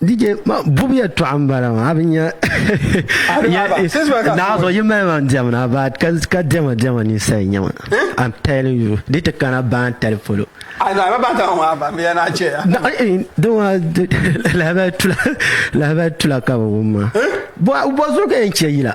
DJ ma bubu ya tɔɣa n bala ma abi nya naɣaso yi mali man diɛm na ba ka ka diɛma diɛma ni sali nya ma I'm telling you di ti kana baan tali polo lahabali tula ka bi wum ma bɔ zuɣu ka yɛn chɛ yila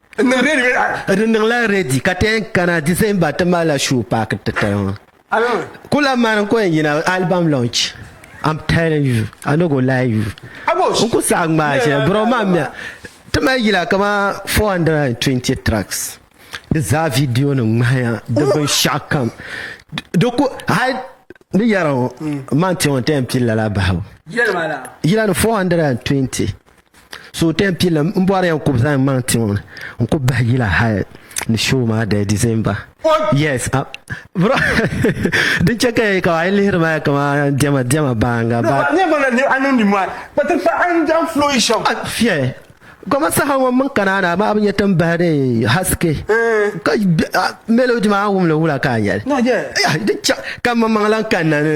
Di niŋla redi ka ti yɛn kana December ti malila show paaki titali ŋɔ. Ku lahi mani n-ku yɛn yina album launch. I'm telling you, I no go lie you. N ku saɣi ŋmaai shɛli bro maa mi a. Ti mali yila kamani 420 tracks. Di zaa video nim ŋmahiya di binshɛɣu kam. Di ku hali ni yɛra ŋɔ man ti ŋɔ n-ti yɛn pili lala bahibu. Yila ni 420. Suhupiɛlli n bɔri yan kub zaŋ maŋ ti ŋɔ ni n ku bahi yila hali ni show maa dali December yes ah, bro din chɛ ka ya ka a yi lihiri maa kama diɛma diɛma baanga ba never na ni a niŋdi maa kpati kpa a ni dan flow yi shɛm fiɛ goma saha ŋɔ mini kanaana maa bi nyɛ tin bahi de haske ka melody maa wumli wula ka a yɛli din chɛ ka maŋmaŋ lan kanna ni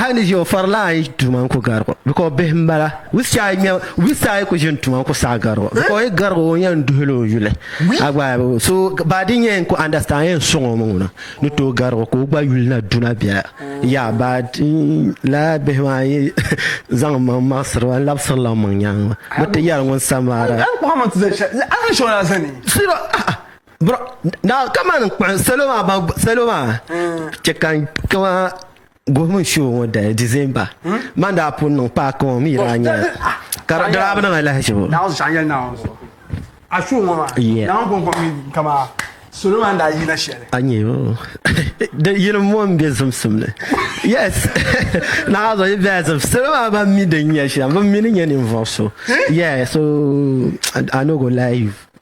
Hali ni ʒiya o farila ayi tuma n ku garigo bika o bihi n bala wisia ayi nya wisia ayi ku ʒini tuma n ku saɣi garigo bika o yi garigo o yɛn duhila o yuli a gba so baa din yɛn ku understand yɛn sɔŋ o mi ŋuna ni tooi garigo ka o gba yuli na duna biɛla ya baa la bihi maa yi zaŋ maŋ maɣasiri ba n labisiri la maŋ nyaanga bi ti yɛli ŋun samara kamani salo maa salo maa chɛ ka kama Gohimi show ŋɔ dali December man daa pun niŋ paaki ŋɔ mi daa nyɛla ka di daa bi niŋ alahizibo salo maa daa yina shɛli a nyɛ o yini mo n bɛ zimsim ni yes naa zuɣu yi bɛla zim salo maa ban mi din nyɛ shɛm bin mi ni nyɛ ninvuɣu so yeah so I no go lie you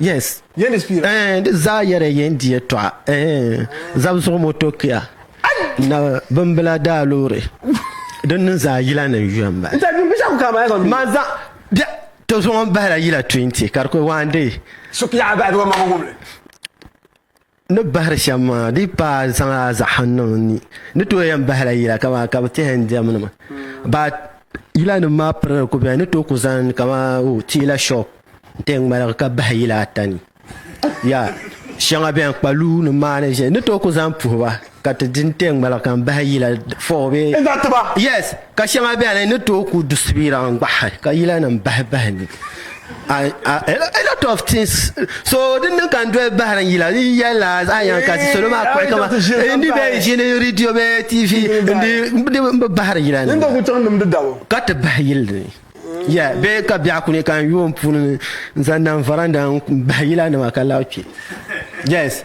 yes yɛn di spiira eh, di zaa yɛrɛ yɛn di yɛtɔɣa eh, zab zuɣu moto kia na bimbila daa loori din ni zaa yila ni yuya n bala man zaŋ bɛ to zuɣu n bahila yila 20 ka di kuli waandee Ni bahiri shɛm maa di yi paai zaŋ a zaɣa niŋ n ni, n ni tooi yɛn bahila yila kaman ka bɛ tɛhi n diɛmnima. Baa yilanim maa pirili ku beni, n ni tooi ku zaŋ kaman o teela shop n-ti yɛn ŋmaligi ka bahi yila ata ni. Yaa shɛŋa beni kpaluunim maa ni ʒiya n ni tooi ku zaŋ puhi ba. Ka ti di n-ti ŋmaligi ka n bahi yila fɔɣu bee? N zaŋ ti ba. Yes, ka shɛŋa beni n ni tooi ku du subira n-gbahi ka yilanim bahi bahi ni a lot of things. So din niŋ ka n doli bahiri n yila yɛla a yɛn kasi salo maa kpuɣi ka ma n di bee ʒini radio bee TV n bi bahiri yila ni ka ti bahi yili ni. Yeah, bee ka biɛɣu kuni ka n yooi n puuni n zaŋ niŋ varanda n bahi yilanima ka lahi kpi. Yes.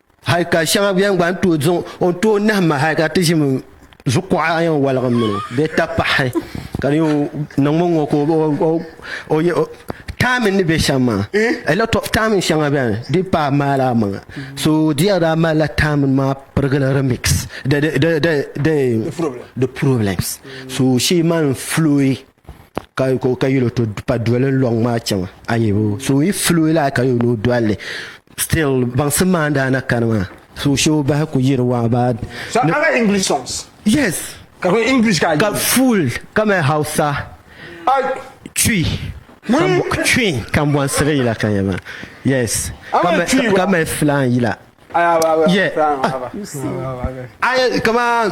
Hal ka shɛŋa bɛn gba ni tooi zaŋ o tooi nahi ma hal ka ti ʒimi zukuɣa a yɛn waligim mini o bee ta pahi ka di yɛn niŋmi ŋɔ ka o yɛ taamin ni bɛ shɛm maa a lot of taamin shɛŋa bɛni di yi pahi maali amaŋa so di yɛn daa malila taamin maa pirigili remix the problems so she man flowy ka ka yɛl o to pa doli n lɔŋ maa chaŋ a yi bo so yi fili o laa ka yɛl o dolli still baŋsim maa n daa na kani maa so shee o bahi ku yiri waa baa So I like English songs. yes Ka kuli English ka ka full ka mali hausa I chui Wee. chui kambɔnsiri yila ka yɛli maa yes Ama ka ma- chui ka- wa. ka mali filan yila kamaan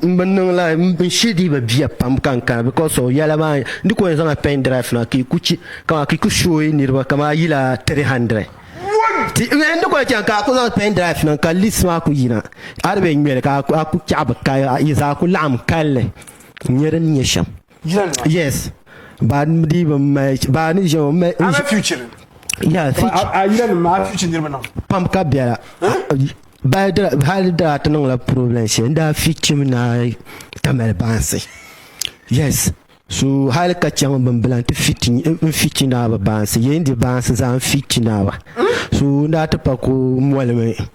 n bi niŋ la n shiri dii bi bia pam ka n kana because of yɛla maa n di ko yɛn zaŋla pen drive na ka i ku chi kamaan ka i ku shooyi niriba kamaan yila 300 ti n di ko yɛn chaŋ ka a ku zaŋ pen drive na ka list maa ku yina a di bɛ ŋmɛli ka a ku chaɣi bi kaya yi zaa ku laɣim kalli n nyɛ din nyɛ shɛm yes ba di ba mai ba ni ʒe mai I'm a future. ya fi A yira ni maa future niriba niŋ. pam ka biɛla ba di hali daa ti niŋla problem shɛli n daa fi chim na tamali baansi yes so hali ka chaŋ bimbila n ti fi ti n fi chi naaba baansi yɛn di baansi zaa n fi chi naaba so n daa ti pa ko molimi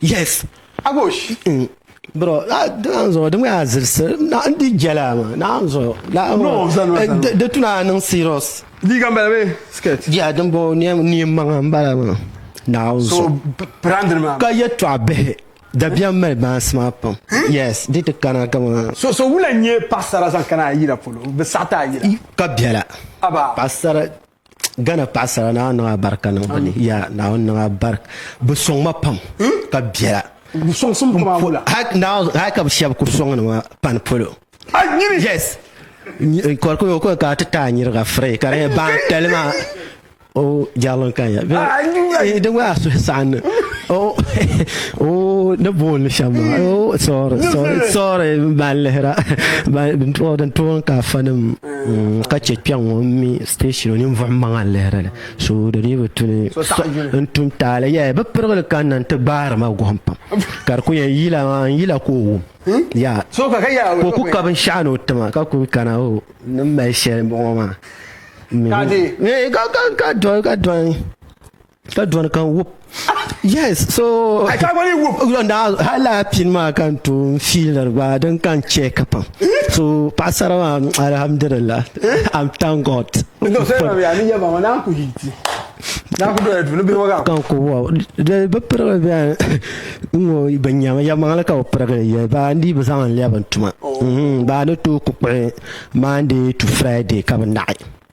yes agosh mm. bro dina zuɣu di ŋmɛa zilisi n di jɛla ma naam zuɣu eh, di tuna niŋ serious liiga n bala bee skirt ya din bo neen maŋa n bala ma naam zuɣu ka yɛ tɔɣa bihi dabiɛm mali baansi maa pam hmm? yes di ti kana kama so so wula n nyɛ paɣasara zaŋ kana a yira polo bi saɣata a yira ka biɛla paɣasara gana paɣasara na niŋ a barika niŋ bini ya naawuni niŋ a barika bi sɔŋ ma pam hmm? ka biɛla hali ka bi shɛbi ku sɔŋ ni ma pani polo yes kɔrikuni o kɔni ka ti taa nyiriga firi ka di yɛ ban tali maa o jarlin kan ya di gba a suhi saɣan ni o o ni boon ni shɛm maa o sɔri sɔri ban lihira ban toon ka fanim ka chɛ kpɛŋ ŋɔ n mi station ninvuɣu maŋa n lihiri li so di dii bi tu ni n tu n taali yaa bi pirigili kanna n ti gbaari ma guhim pam ka di ku yɛn yila maa n yila ka o wum yaa ka o ku ka binshaɣu ni o ti ma ka ku kana o ni mali shɛli n bɔŋɔ maa ka dɔn ka dɔni kan wup yes so Ai, ka gwani wup. na hala pin maa kan tun fiilir gba din kan chɛ ka pam so paɣasara maa alhamdulillah i'm thank god No, sai ma ya ni ya ba na ku yi ti. Na ku doya duni bihi waga. kan ku wa di bi pirigi bɛn n ŋɔ bi nyɛmi ya maŋli ka bi pirigi yɛ baa n dii bi zaŋ n lɛbi n tuma Mhm, baa ni tooi ku kpuɣi monday to friday ka bi naɣi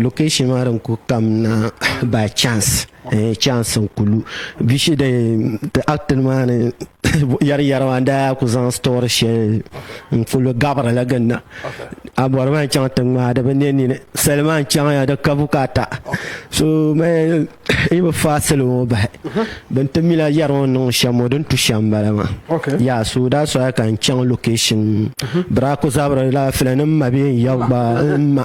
location maa din ku kamna by chance eh, chance n kulu bi shi din ti actin maa ni yɛri yɛri maa daa ku zaŋ story shɛli n kulu gabiri la ginna a bɔri maa n chaŋ tiŋ maa di bi ne nini sali maa n chaŋ ya di ka bukata so mɛ i bi faa sali ŋɔ bahi bin ti mila yɛri ŋɔ niŋ shɛm ŋɔ din tu shɛm bala maa Okay. ya so daa soya ka n chaŋ location bira ku zabiri la filanim ma bee n ya gba n ma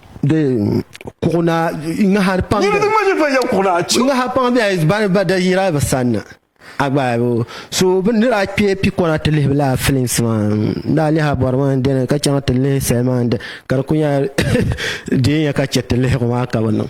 de kuɣuna ŋahari pam yɛli din ŋmani ban yɛn kuɣuna ŋahari pam bɛ bani ba da yira bi sanna agbaabu so bi ni daa kpɛ pikɔna ti lihi la films maa n daa lihi bɔri maa n dini ka chaŋ ti lihi sali maa ka di ku nyɛla deei ya ka chɛ ti lihigu maa ka bi niŋ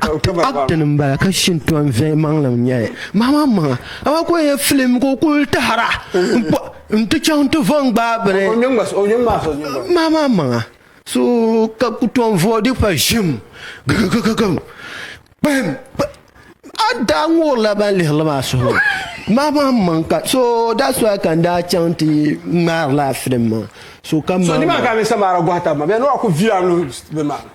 Acting n bala ka Shintɔn viɛli maŋlim nyɛli mahamaŋ maŋa amaa ka o yɛn film ka o kuli tahira n ti chaŋ ti vo n gbaai bini mahamaŋ maŋa so ka ku tom voodi pa ʒim gigigigim kpahim a daa ŋurila ban lihirili maa suhu mahamaŋ maŋ ka so that's why ka n daa chaŋ ti ŋmaari laa film maa so ka So ni maa ka mi samara gɔhi tab ma bɛ ni wa ku vila n luhi bi maa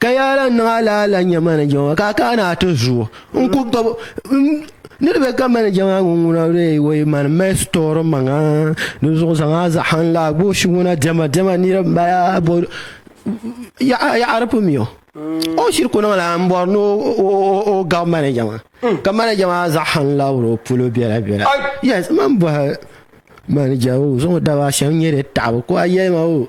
Ka yaa lahi niŋ alaala n-nyɛ manager ŋɔ ka a kaana a ti zuo n ku gbabi ni di be ka manager maa ŋun ŋuna lee o yi mani mali store maŋa di zuɣu zaŋ a zaɣan laa gooshi ŋuna dɛma dɛma nira m bala yaɣa di pun mi o o shiri ku niŋla n bɔri ni o gabi manager maa ka manager maa zaɣan labiri o polo bela bela yes man bɔhi manager o zuɣu daba shɛm nyɛ di taɣibu ko a yɛli ma o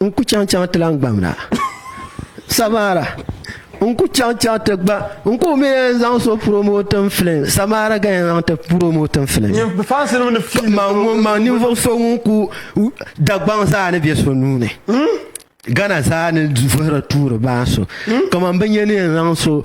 N ku chaŋ chaŋ ti lan gbam na. Samara, n ku chaŋ chaŋ ti gba, n ku mi yɛn zaŋ so promoting film, Samara ka yɛn zaŋ ti promoting film. Nyini bi fans nim ni fi ni Man so- ŋun man ninvuɣu so ŋun ku Dagbaŋ zaa ni bɛ so nuu ni. Ghana zaa ni vuhiri tuuri baa so. Kaman bi nya ni yɛn zaŋ so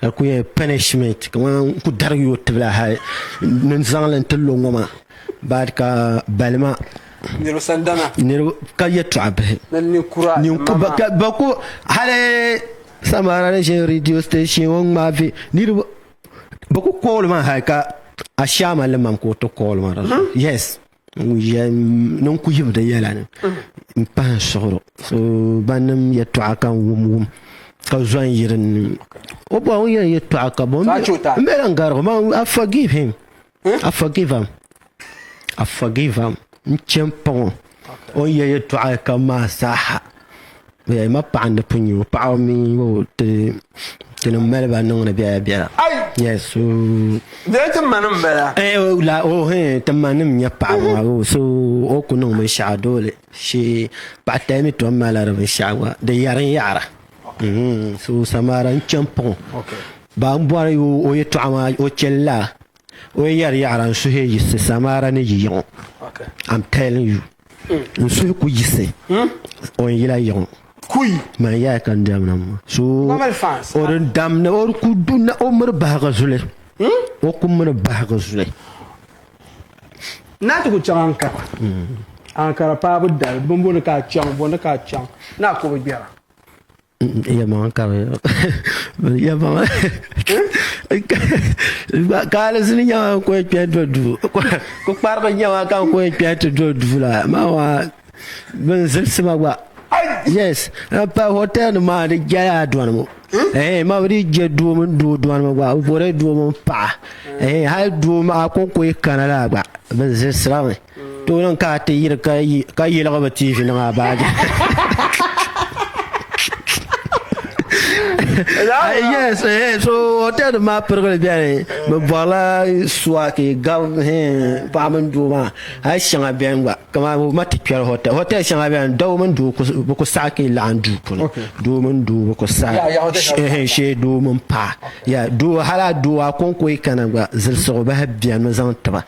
ka di ku nyɛla pɛnishimɛnt kamani n ku darigi yi o tibili hali ni n zaŋli n ti lo ŋɔ maa bad ka balima ka yɛltɔɣa bihi hali samara ni ʒɛ rɛdiyo station ŋɔ n ŋmaai niriba bi ku kooli maa hali ka ashaama ni mam ka o ti kooli maa ninku yibu di yɛla ni n pahi n suɣuri so ban niŋ yɛltɔɣa ka n wum wum ka zo n yiri ni o bɔ o yɛn yɛltɔɣa ka bɔ n bɛ lan garigi ma I forgive him I forgive am I forgive am n chɛ n paŋ o o ni yɛli yɛltɔɣa kam maa zaaha Bɛ ma paɣa ni pun nyɛ o paɣa mi o ti ti ni mali ba niŋdi biɛla biɛla yes so bɛ ti ma nim bala eh o la o he ti ma nim nyɛ paɣa ma o so o ku niŋ binshaɣu doole she paɣa tali mi tom mala di binshaɣu gba di yɛri n yaɣara mhm, so samara n chɛn paŋ ba n bɔri o yɛtɔɣa maa o chɛli la o yɛri yaɣara n suhi yiɣisi samara ni yiyiŋo I'm telling you N suhu ku yiɣisi o n yila yiɣu. Man yaya ka n dam na ŋɔ. So o di dam na o di ku du na o miri bahigu zuli. O ku miri bahigu zuli. Naa ti ku chaŋ Ankara. Ankara paabu dali bini boli ka a chaŋ bɔ ni ka a chaŋ ni a ku bi gbera. ya maŋa ka bɛ ya maŋa kaali zini nyɛma n kuli kpɛ do duu kpukpariba nyɛma ka n kuli kpɛ ti do duu la maa maa bin zilisi ma gba yes n pa hotel nima maa di jɛla dɔni ŋɔ ɛɛh ma bi dii jɛ doo mini doo dɔni ŋɔ gba bɛ bɔrila doo mini paɣa ɛɛh hali doo maa konko yi kana la gba bɛ zilisi la mi. Tooni ka a ti yiri ka yiligi bi TV niŋ a baaji. yes eh, so hotel nim maa pirigili bɛni bi bɔrila suwaki gab paɣa mini doo maa hali shɛŋa bɛni gba kamani bi ma ti kpɛri hotel hotel shɛŋa bɛni doo mini doo bi ku saɣi ka laɣim duu puuni doo mini doo bi ku saɣi shee doo mini paɣa doo hali a doo a konko yi kana gba zilisigu bahi bɛni mi zaŋ tiba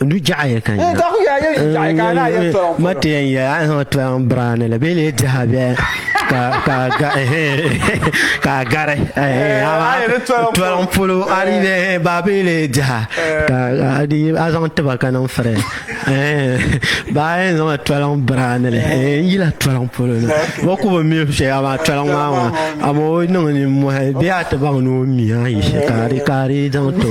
du jaɣa yɛ ka nya ma ti yɛn yɛ a zaŋ ti an birani la bee lee diha bɛ ka ka ga ka gari tɔlɔm polo a di bɛ ba bee lee diha ka a di a zaŋ tiba ka niŋ firi ba yɛn zaŋ tɔlɔm birani la n yila tɔlɔm polo na ba ku bi mi shɛ a maa tɔlɔm maa maa a ma o niŋ ni mɔhi bee a ti baŋ ni o mi a yi shɛ ka di ka di zaŋ to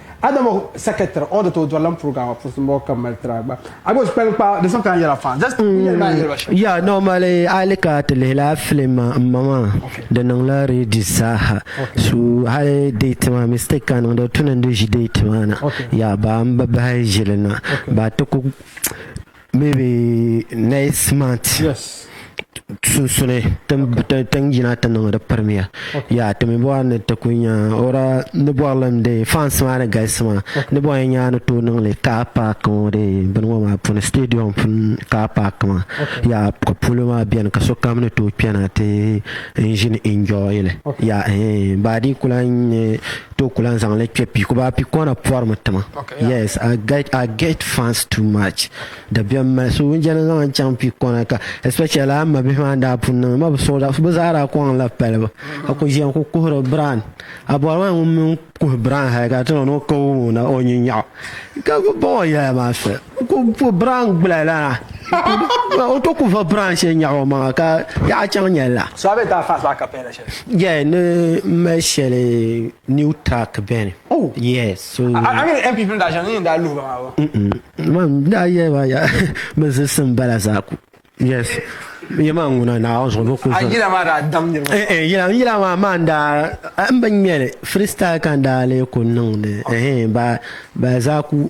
Adama secretary order to dɔrlam program wa puuni mɔɣu ka mali tira gba a gba kpali kpa di sɔŋ ka yɛra fan just yɛli maa yɛli ba shɛm ya normally a li ka ti lihi la film ma n ma maa di niŋ la redis zaaha so hali date maa mistake ka niŋ di tuni n di ʒi date maa na ya ba n bi bahi ʒili na ba ti ku Maybe next month. Yes. sunsuni tin yina ti niŋ di pirimiya ya ti mi bɔri ni ti ku nya ora ni bɔri lim de fans maa ni galisi maa ni bɔri nya ni tooi niŋli car park ŋɔ de bini ŋɔ maa puuni stadium puuni car park maa ya ka polo maa beni ka sokam ni tooi kpɛna ti n ʒini enjoy li ya baadi kula n-nyɛ to ku lan zaŋli kpe piku baa pikɔna pɔrimi tima yes I get I get fans too much dabiɛm mali so n jɛli zaŋ chaŋ pikɔna ka especially a ma bihi maa n daa pun niŋ ma bi suɣu da bi zaa daa kɔŋ la palibu ka ku ʒiya n ku kuhiri Brian a bɔri maa ŋun mini kuhi Brian hali ka ti ni o ka wum o na o nyin nyaɣu ka ku baŋ o yɛla maa soli n ku ku Brian gbula lana o to ku va Brian shɛli nyaɣu o maŋa ka yaɣa chaŋ nyɛli la. So a bɛ daa fans maa ka paya la Yeah, ni mali shɛli new track bɛni. Oh. Yeah, so. A ni MP pim daa shɛŋa ni daa luhi ba maa wa. Man daa yɛ ba ya mi zilisi n bala zaa ku. Yes. Yɛ maa ŋuna na o zuɣu bi ku. A yila maa daa dam niriba. Eh eh yila yila maa maa n daa n bi ŋmɛli freestyle ka n daa lee ku niŋdi eh ba ba zaa ku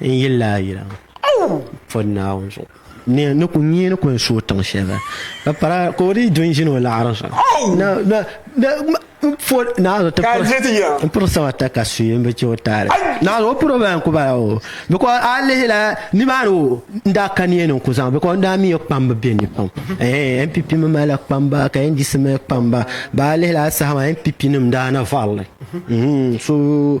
N yilla a yila pɔdi Naawuni zuɣu. Ni ni ku nyee ni kuli suui tiŋ shɛli ka para ka o dii du n-ʒini o laɣiri zuɣu na na na m po Naawuni ti piri n piri sabata ka suui m-bi chɛ o taali. Naawuni o piri o bala n-ku bala o because a lihi la nimaani o n daa ka niɛ ni n ku zaŋ because n daa mi o kpamba be ni pam eeh NPP mi mali la kpamba ka NDC mi mali kpamba ba a lihi la a saha maa NPP nim daa na varili so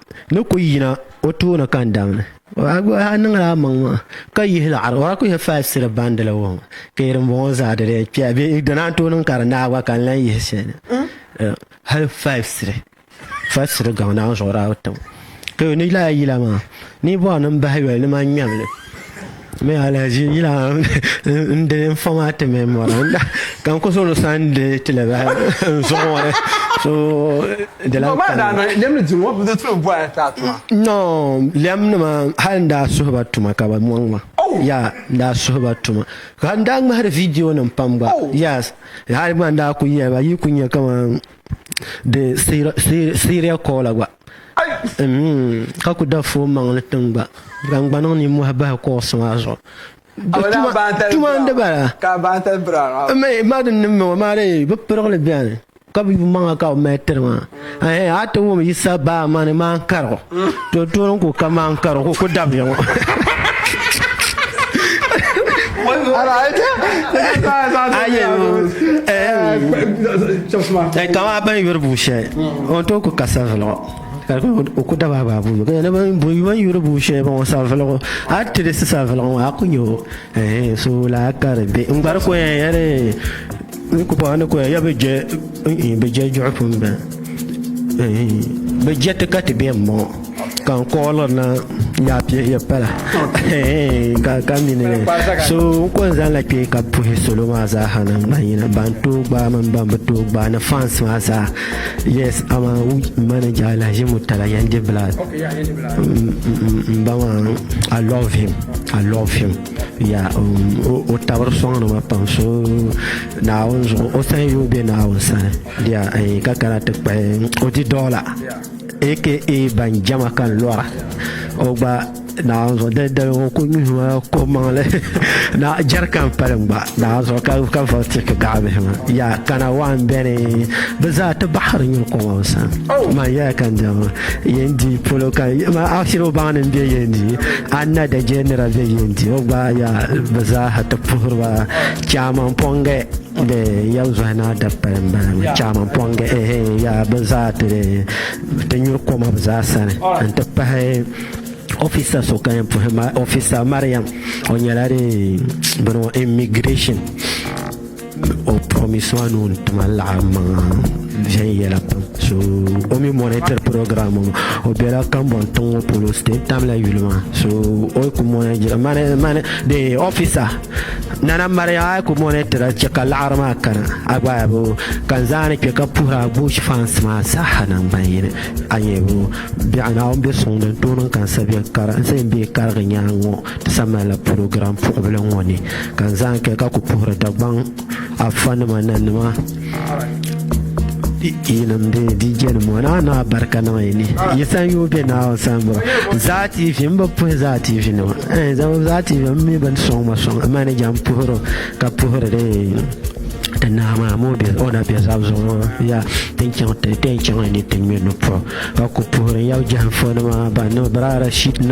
ni ku yina o tooni ka n damni. O a gba haa niŋla a maŋ maa, ka yihi laɣiri o a ku yɛn faai siri bandili ŋɔ maa. Ka yi dimbɔŋɔ zaa di lee kpɛya bee? Di naan tooi niŋ ka di naai gba ka n lan yihi shɛli na. Hali faai siri, faai siri gaŋ naawuni zuɣu daa bi ti ma. Ka yo ni lahi yila maa, ni yi bɔri ni m bahi yoli, ni ma ŋmɛm li. Me alaji yila n de fama ti me mɔra ka n koso ni san de ti la ba n zuɣu ŋɔ so de la ba da na lem ni dun ŋɔ bi tu bo ya ta tuma no lem ni ma hal n daa suhi ba tuma ka ba mɔŋ ma ya n daa suhi ba tuma ka n daa ŋmahari vidiyo nim pam gba yas hal gba n daa ku yɛli ba yi ku nya kaman di Siria koola gba. Ka ku da foo maŋli tiŋ gba, ka n gba niŋ nimmohi bahi koosi maa zuɣu. Tuma n di bala. Maa din ni ŋɔ maa dee bi pirigili bɛni. Ka bi yumaŋa ka bi mali tiri maa. A ti wum Yisa baamani maa n karigu. To toon ku kaman ka di ku ku dabiya ŋɔ. Eh, kama ban yuri buu shɛli o tooi ku ka savilgu ka di ku- o ku daba abaabuu ka yɛli ban bu- ban yuri buu shɛli ban o savilgu a yi tirisi savilgu ŋɔ a ku nya o Ehe so la ka di be n gbari koya yɛre n ku paɣa ni koya ya bi jɛ bi jɛ jɔɣu pun bɛ bi jɛ ti ka ti bɛ n bɔŋɔ ka n kɔɔlɔ na yaa pɛ ya pala ka ka mini so n ko n zaŋ la kpɛ ka puhi salo maa zaa ha niŋ ban yina ban too gbaa mini ban bi too gbaa ni fans maa zaa yes ama manager la ʒi mu tala yɛn di bila n ba maa I love him. I love him. Yeah, um, o tabiri sɔŋ nima pam so naawun zuɣu o sani yuun be naawun sani. Yeah, eh, ka kana ti kpahi o di dɔla aka ban jama kan lɔra o gba naawun zuɣu dali dali ŋun ku nyuhi ma ko maŋli na jɛri kan pali gba naawun zuɣu ka ka vɔri ti ka gaɣa bihi ma. Yeah, kana waan bɛni bi zaa ti baɣiri nyuri kɔŋɔ n sani. Man yɛla kan jama yɛn di polo kan ma akshin o baŋ ni n be yɛn di. A ni na da je nira bɛ yɛn di o gba ya bɛ zaaha ti puhiri ba chɛman pɔŋge de ya zuhi na da paya m-bala chɛman pɔŋge ehe ya bɛ zaa ti ti nyuri koma bɛ zaa sani n-ti pahi ofisa so ka yɛn puhi ofisa Mariam o nyɛla de bini immigration o promise maa ni o ni tuma laɣim maŋa viɛnyɛla pam so o mi monitor program ŋɔ o bela kambɔŋ tiŋ ŋɔ polo state tamila yuli maa so o ku monitor mani mani de officer nana mariya a ku monitor chɛ ka laɣiri maa kana a gba a bo ka n zaa ni kpe ka puhiri a bush fans maa zaaha naŋgban yini a nyɛ bo biɛɣu Naawuni be suŋ ni n tooi niŋ ka n sabiɛn kara n sabiɛn bee karigi nyaaŋa ŋɔ Samala purogiram puɣubili ŋɔ ni ka n zaa kɛ ka ku puhiri Dagbaŋ afa nima na nima yinim bɛ DJ nim ŋɔ naa naa barika niŋ yi ni yi san yoo bɛ naa o san bɔra zaa TV n bi puhi zaa TV nima eh, zaa TV n mi bin sɔŋ ma sɔŋ manager n puhiri ka puhiri de ti naa maa moo bɛ o na bɛ zab zuɣu ya tin chaŋ tin chaŋ ni ti ŋmɛ ni puhi ka ku puhiri yab jahim fo nima ba ni biraara shit nima